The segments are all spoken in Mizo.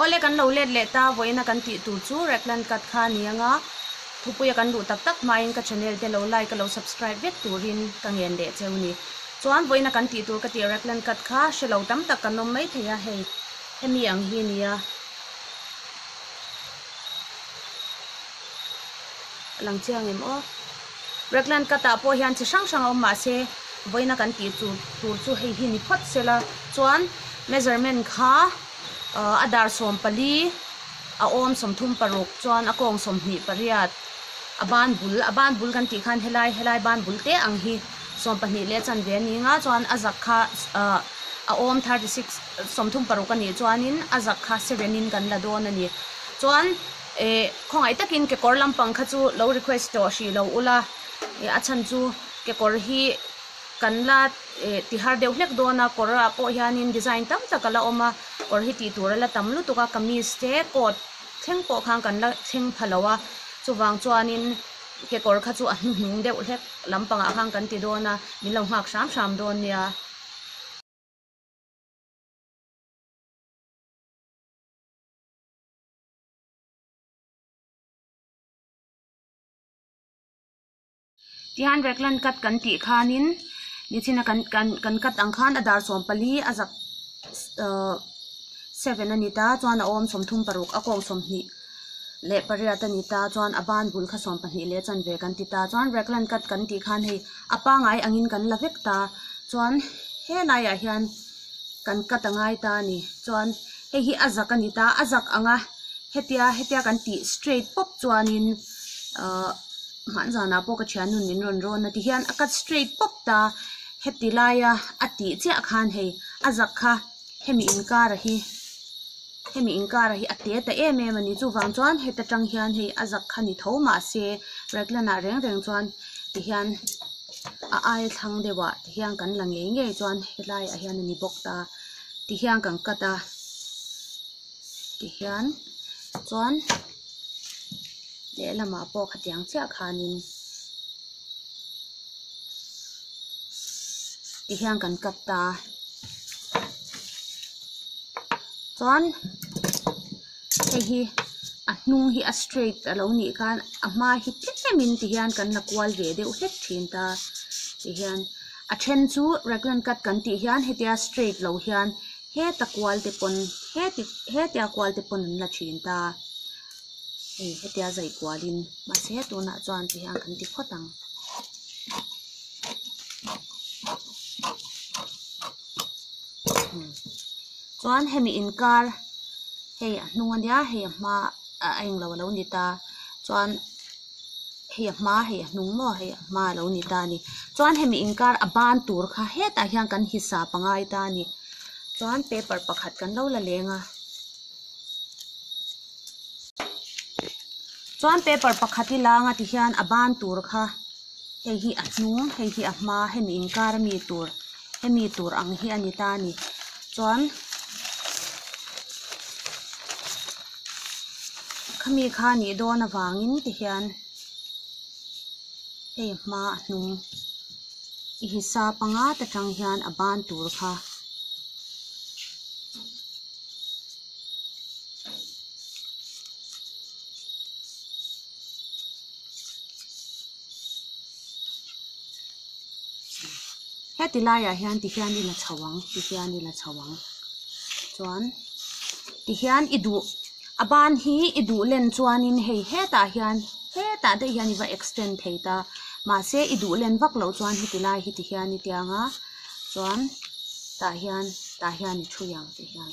Awle kan lo let leh ta vawiin a kan tih tur chu Raglan Cut kha a ni anga thupui a kan duh tak tak hmain ka channel te lo like a lo subscribe vek turin ka ngen leh cheu ni chuan vawiin a kan tih tur ka ti Raglan Cut kha hre lo tam tak kan awm mai thei a hei hemi ang hi nia. a lang chiang em aw. Raglan cut ah pawh hian chi hrang hrang a awm mahse vawiina kan tih chu tur chu hei hi ni phawt se la chuan measurement kha ah a dar sawm pali a awm sawmthum paruk chuan a kawng sawmhnih pariat a ban bul a ban bul kan tih khan helai helai ban bul te ang hi sawm pahnih leh chanve ani anga chuan a zak kha ah a awm thirty six sawmthum paruk anih chuan in a zak kha seven in kan la dawn ani chuan Eh, khawngaih takin kekawr lampang kha chu lo request tawh hrih lo ula, eh a chhan chu kekawr hi kan la eh ti har deuh hlek dawn a, kawrah pawh hianin design tam tak a la awm a, kawr hi tih tur a la tam lutuk a, kamis te coat thleng pawh khan kan la thleng pha lo a, chuvang chuanin kekawr kha chu a hnuhnung deuh hlek lampangah khan kan ti dawn a, min lo nghak hram hram dawn nia. Tihian Reklan kat kan tih khanin Nichina kan kan kan kat ang khan a dar sawm pali a zak uh seven a ni ta chuan a awm sawmthum paruk a kawng sawmhnih leh pariat a ni ta chuan a ban bul kha sawm pahnih leh chanve kan ti ta chuan Reklan kat kan tih khan hei a pangai angin kan la vek ta chuan he laiah hian-- kan cut a ngai ta a ni chuan hei hi a zak a ni ta a zak ang a hetia hetia kan tih straight pawp chuanin ahh hmah zanah pawh ka thian nun min rawn rawn a ti hian a cut straight pawp ta heti laia a tih chiah khan hei a zak kha hemi inkara hi hemi inkara hi a te ta em em a ni chuvang chuan heta tang hian hei a zak kha ni tho mahse raglan ah reng reng chuan tihian a aithlang deuhah-- hian kan la ngei ngei chuan helai ah hian a ni bawk ta ti hian kan cut a tihian chuan lehlamah pawh khatiang chiah khanin ti hian kan cut ta chuan-- hei hi a hnung hi a straight a lo nih khan a hma hi tlem in ti hian kan la kual ve deuh hlek thin ta tihian a then chu raglan cut kan tih hian hetia straight lo hian heta kual te pawn heti hetia kual te pawn an la thin ta hei hetia zai kual in mahse tunah chuan ti hian kan ti phawt ang. Chuan hemi inkar hei a hnung a nia hei a hma ah a englo alo ni ta chuan hei a hma hei a hnung maw hei a hma alo ni ta a ni chuan hemi inkar a ban tur kha hetah hian kan hisa pangai ta a ni chuan paper pakhat kan lo la leng a chuan paper pakhat i langa ti hian a ban tur kha hei hi a hnung hei hi a hma hemi inkar a mi tur. hemi tur ang hi a ni ta a ni chuan khami kha a nih dawn avangin ti hian hei hma a hnung i hi sa panga te tang hian a ban tur kha heti laiah hian ti hian i la chho ang ti hian i la chho ang chuan ti hian i duh a ban hi i duh len chuanin hei hetah hian hetah daih hian i va extend thei ta mahse i duh len vak loh chuan heti lai hi ti hian i tia ang a chuan tah hian tah hian i ṭhui ang ti hian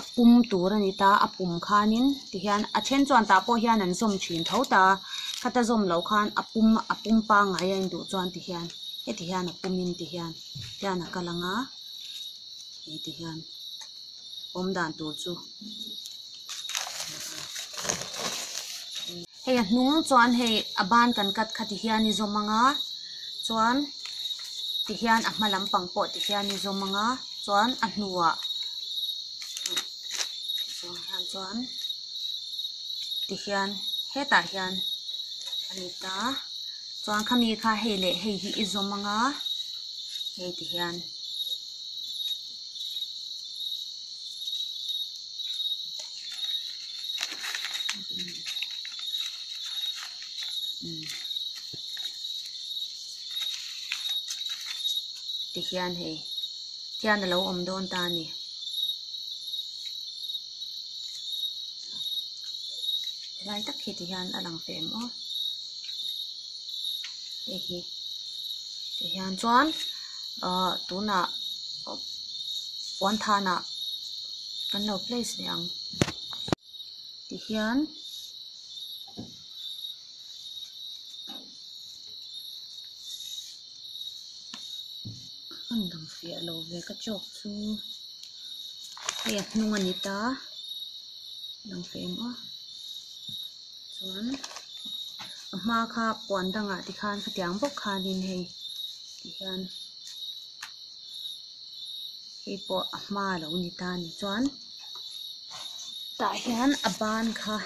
a pum tur a ni ta a pum khanin tihian a then chuan tah pawh hian an zawm thin tho ta khata zawm loh khan a pum a pum pangngai a induh chuan tihian heti hian a pumin tihian hian a kal ang a hei tihian awm dan tur chu. Hei a hnung chuan hei a ban kan cut kha tih hian i zawm anga chuan tih hian a hma lam pang pawh tih hian i zawm anga chuan a hnuah zawng hian chuan tih hian hetah hian a ni ta chuan khami kha hei leh hei hi i zawm anga hei tih hian. tikhian hei khian alo awm dawn ta ani hlai tak hi tihian a lang fem aw. hei hi tih hian chuan ahh tunah puan than ah kan lo place leh ang tih hian a rawn lang fiah lo ve ka chawk chu hei a hnung a ni ta a lang feh ang a. chuan a hma kha puan dangah te khan hetiang bawk khanin hei ti hian hei pawh a hma lo ni ta ni chuan tah hian a ban kha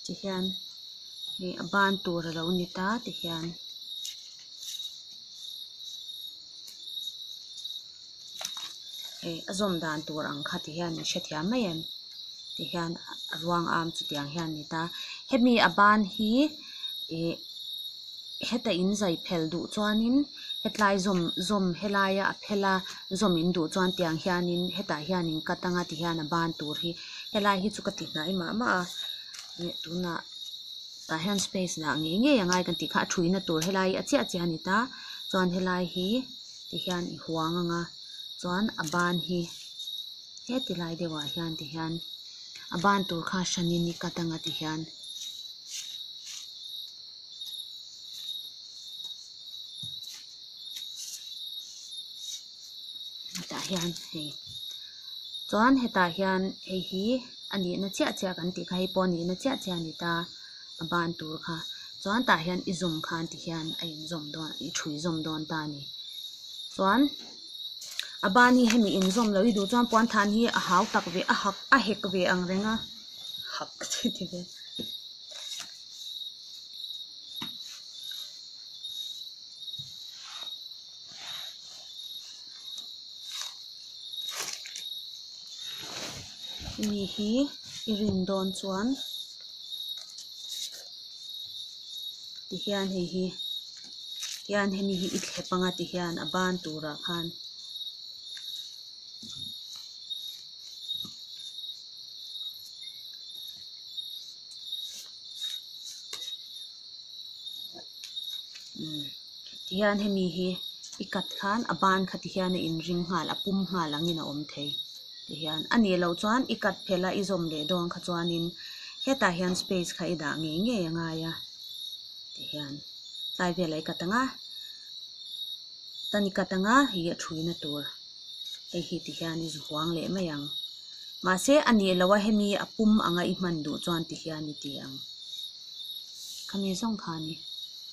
ti hian hei a ban tur alo ni ta ti hian. hei a zawm dan tur ang kha ti hian min hrethiam mai em ti hian a ruang a chutiang hian a ni ta hemi a ban hi ih heta in zai phel duh chuanin hetlai zawm zawm helaia a phela zawm in duh chuan tiang hianin hetah hian in cut anga ti hian a ban tur hi helai hi chu ka ti hnai mah mah a ih tunah tah hian space lah ngei ngei ang a kan tih kha a ṭhu in a tur helai hi a chiah chiah a ni ta chuan helai hi-- ti hian i huang ang a chuan a ban hi heti lai deuhah hian ti hian a ban tur kha hranin i cut ang a ti hian hetah hian hei chuan hetah hian hei hi a nihna chiah chiah kan tih kha hei pawh a nihna chiah chiah a ni ta. a ban tur kha chuan tah hian i zawm khan ti hian a in zawm dawn a i ṭhui zawm dawn ta a ni chuan a ban hi hemi in zawm loh hi duh chuan puan than hi a hau tak ve a hak a hek ve ang reng a hak chi ti ve mi hi i rin dawn chuan. ti hian hei hi hian hemi hi i thlep anga ti hian a ban turah khan umm ti hian hemi hi i kat khan a ban kha ti hian a inring nghal a pum nghal angin a awm thei. Tihian, a nih loh chuan i cut phelh a, i zawm leh dawn kha chuanin hetah hian space kha i dah ngei ngei a ngai a, tihian. Tlai velah i cut ang a, tan i cut ang a, hi a thuina tur hei hi ti hian i zu huang leh mai ang. Mahse a nih loh a hemi a pum ang a i hman duh chuan tihian i ti ang. Khami zawng kha a ni.